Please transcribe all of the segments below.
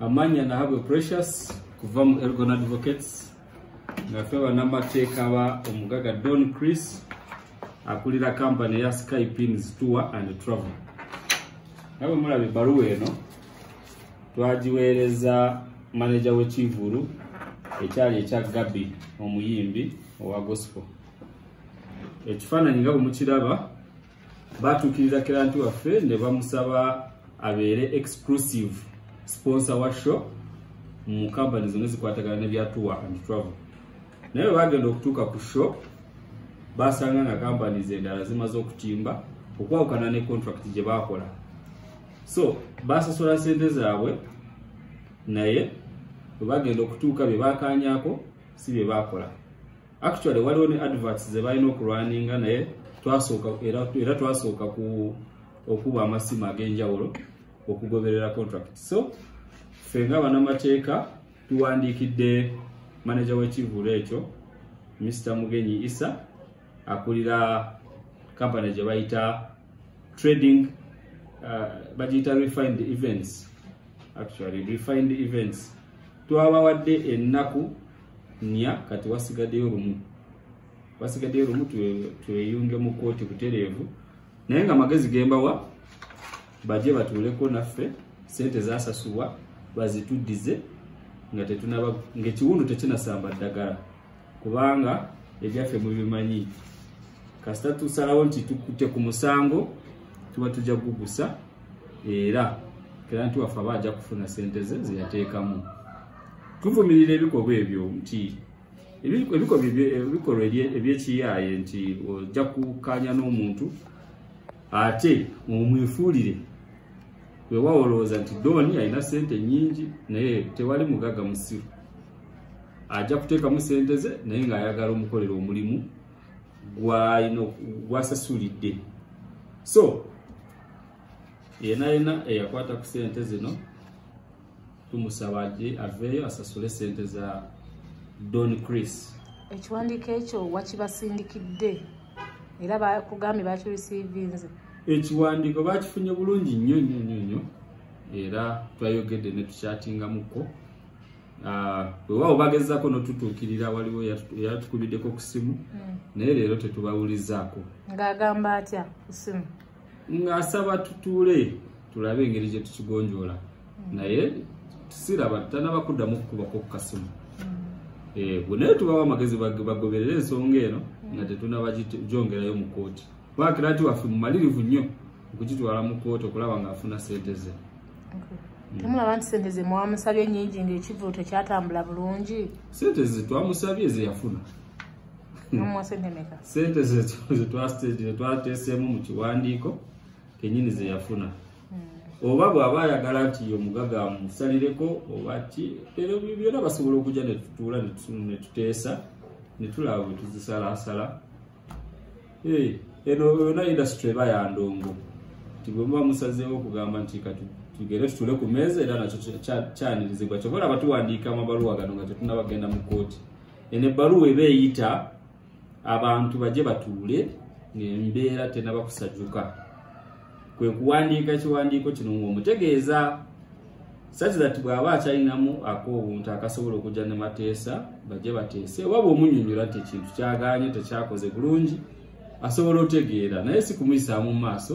amanya nahabwe precious kuva mu elgon advocates ngafe banamateeka ba omugaga don chris akulira kampani ya skypins tour and travel nabwe mulaba ebbaluwa eno twagiweereza maneja w'ekivulu ekyali ekya gabi omuyimbi owa gospel ekifaananyi nga bwe mukiraba baatuukirira kiranti waffe ne bamusaba abeere exclusive sponsor wa show mu kampani zonna zikwatagana ne bya tour and travel naye bwe bagenda okutuuka ku show baasanga nga kampani zendala zimaze okutimba okwawukana ne contract gye baakola so baasasula sente zaabwe naye bwe bagenda okutuuka bye baakaanyako si bye baakola actually waliwo ne adverts ze balina okulwaninga naye twasooka era twasooka ku okuba amasimu ag'enjawulo okugoberera contract so ffe nga banamateeka tuwandiikidde manaja w'ekivulu ekyo mr mugenyi isa akulira kampani gye bayita trading uh, bagiyita refined events actually refined events twabawadde ennaku nnya kati wasigaddeyo lumu wasigaddeyo lumu tweyunge mu kkooti butereevu naye nga magezi gembawa baje batuuleko naffe sente zasasulwa bazituddize nga tetunaba ngaekiwundu tekinasamba ddagala kubanga ebyaffe mubimanyi kasita tusalawo nti tukute ku musango tuba tujja kugugusa era kiranti waffe aba ajja kufuna sente ze zeyateekamu tuvumirira ebikolwa ebyo nti ebikolwa ebyekiyaaye nti ojja kukanya n'omuntu ate omwefuulire wewawo olowooza nti dooni alina sente nyingi naye tewali mugaga musiru ajja kuteekamu sente ze naye ng'ayagala omukolera omulimu gwasasulidde so yena yena eyakwata ku sente zino tumusaba ajje aveeyo asasule sente za don chris ekiwandiiko ekyo wakibasindikidde era bakugambye bakirisiivinze ekiwandiiko bakifunye bulungi nnyo nnyo nnyo nnyo era twayogedde ne tukyatingamuko ah, wewaawo bagezako notutuukirira waliwo yatukubiddeko ku simu hmm. naye leero tetubawulizaako ng'agamba atya ku simu ng'asaba tutuule tulabe engeri gye tukigonjoola hmm. naye tusiraba tutanaba kuddamu kukubako ku kasimu hmm. eh, bwe naye tubawo amagezi bagoberera ensonga eno hmm. nga tetunaba gyongerayo mu kooti bakira nti waffe mumalirivu nnyo okukitwala mu kooti okulaba ng'afuna sente ze temulaba nti sente ze mwamusabye nyingi ng'ekivulu tekyatambula bulungi sente ze twamusabye ze yafuna sente zetwateeseemu mu kiwandiiko kenyini zeyafuna hmm. oba bw'aba ayagala nti yo mugaga amusalireko oba ki ero byona basobola okujja netutuula netuteesa netulaba bwetuzisalaasala eh, eno yona industry eba yandongo nti bwemuba musazeewo okugamba nti kati tugere tutule ku meeza era nakyo kyanirizibwa kyobola abatuwandiika amabaluwa gano nga tetunabagenda mu kooti eno ebbaluwa eba eyita abantu baje batuule ng'embeera tenaba kusajuka kwe kuwandiika ekiwandiiko kino ng'omutegeeza such that bw'aba akyalinamu ak'obuntu akasobola okujja ne mateesa baje bateese oba bw'omunyonyola nti ekintu kyagaanye tekyakoze bulungi asobola otegeera naye si kumuyisaamu mu maaso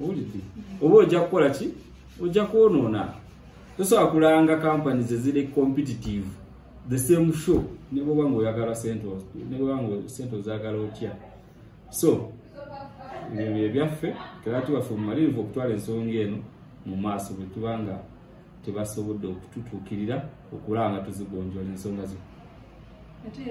owulidde oba ojja kukola ki ojja kwonoona tosobola kulanga kampani zeziri competitive the same show nebwoba nga oyagala sente nebwoba nga sente ozagala otya so ebyo byebyaffe tebati waffe mumalirivu okutwala ensonga eno mu maaso bwetuba nga tebasobodde okututuukirira okulaba nga tuzigonjola ensonga zino